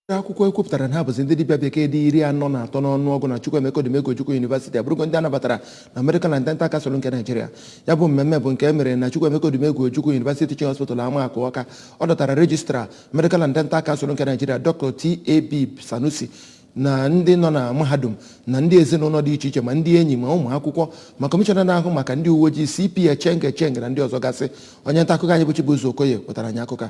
Ndị akwụkwọ e kwupụtara na ha bụzi ndị dibịa bekee dị iri anọ na atọ n'ọnụọgụ na Chukwuemeka Odumegwu Ojukwu University abụrụgo ndị a nabatara na Medical and Dental Council nke Naijiria. Ya bụ mmemme bụ nke e mere na Chukwuemeka Odumegwu Ojukwu University Teaching Hospital Amaakụ Ọka. Ọ dọtara Registrar Medical and Dental Council nke Naijiria Dr. T.A.B. Sanusi na ndị nọ na mahadum na ndị ezinụlọ dị iche iche ma ndị enyi ma ụmụ akwụkwọ ma kọmishọna na-ahụ maka ndị uwe ojii CP Echeng Echeng na ndị ọzọ gasị onye nta akụkọ anyị bụ Chibuzo Okoye wetara anyị akụkọ a.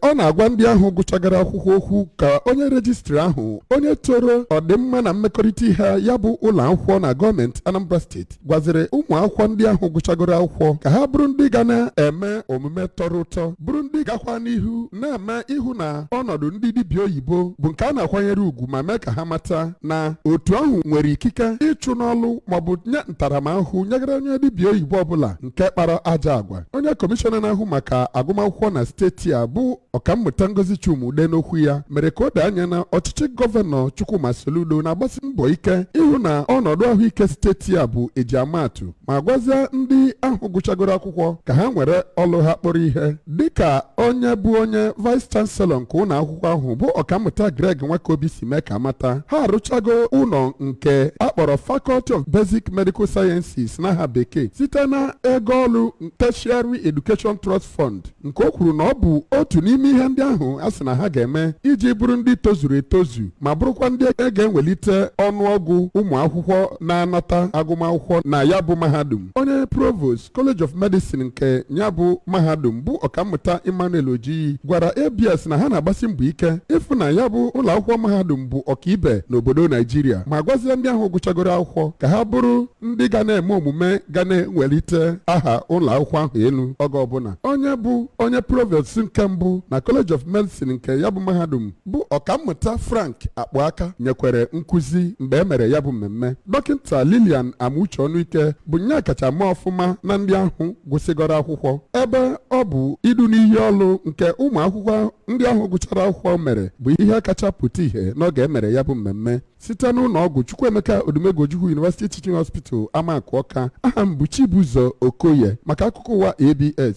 ọ na-agwa ndị ahụ gụchagoro akwụkwọ okwu ka onye rejistra ahụ onye toro ọdịmma na mmekọrịta ihe ya bụ ụlọ akwụkwọ na gọọmenti Anambra steeti gwaziri ụmụ akwụkwọ ndị ahụ gụchagoro akwụkwọ ka ha bụrụ ndị ga na-eme omume tọrọ ụtọ bụrụ ndị gakwa n'ihu na-eme ịhụ na ọnọdụ ndị dibịa oyibo bụ nke a na-akwanyere ugwu ma mee ka ha mata na otu ahụ nwere ikike ịchụ n'ọlụ maọbụ nye ntaramahụhụ nyegara onye dibịa oyibo ọbụla nke kpara ajọ agwa onye kọmishọna na-ahụ maka agụmakwụkwọ na steeti a bụ ọkammụta ngozi chuma-udeh n'okwu ya mere ka o doo anya na ọchịchị gọvanọ chukwuma soludo na-agbasi mbọ ike ịhụ na ọnọdụ ahụike steeti a bụ e ji amaatụ ma gwazie ndị ahụ gụchagoro akwụkwọ ka ha were ọlụ ha kpọrọ ihe dịka onye bụ onye vice chancellor nke ụlọ akwụkwọ ahụ bụ ọkammụta greg nwakoby si mee ka a mata ha arụchago ụlọ nke a kpọrọ Faculty of Basic Medical Sciences n'aha bekee site na ego ọlụ Tertiary Education Trust Fund nke o kwuru na ọ bụ otu n'ime ihe ndị ahụ a sị na ha ga-eme iji bụrụ ndị tozuru etozu ma bụrụkwa ndị e ga-ewelite ọnụọgụ ụmụ akwụkwọ na-anata agụmakwụkwọ na ya bụ mahadum onye provost College of Medicine nke ya bụ mahadum bụ ọkammụta Emmanuel Ojiyi gwara ABS na ha na-agbasi mbọ ike ịfụ na ya bụ ụlọ akwụkwọ mahadum bụ ọkaibe n'obodo Naijiria ma gwazie ndị ahụ gụchagoro akwụkwọ ka ha bụrụ ndị ga na-eme omume ga na-ewelite aha ụlọ akwụkwọ ahụ elu oge ọbụla onye bụ onye provost nke mbụ na College of Medicine nke ya bụ mahadum bụ ọkammụta Frank Akpụaka nyekwere nkụzi mgbe e mere ya bụ mmemme dọkịta Lilian Amuche Ọnụike bụ onye kacha mee ọfụma na ndị ahụ gụsịgoro akwụkwọ ebe ọ bụ idu n'iyi ọlụ nke ụmụ akwụkwọ ndị ahụ gụchara akwụkwọ mere bụ ihe kacha pụta ihe n'oge e mere ya bụ mmemme site n'ụlọ ọgwụ Chukwuemeka Odumegwu Ojukwu University Teaching Hospital Amakụ Ọka aha m bụ Chibuzo Okoye maka akụkọ ụwa ABS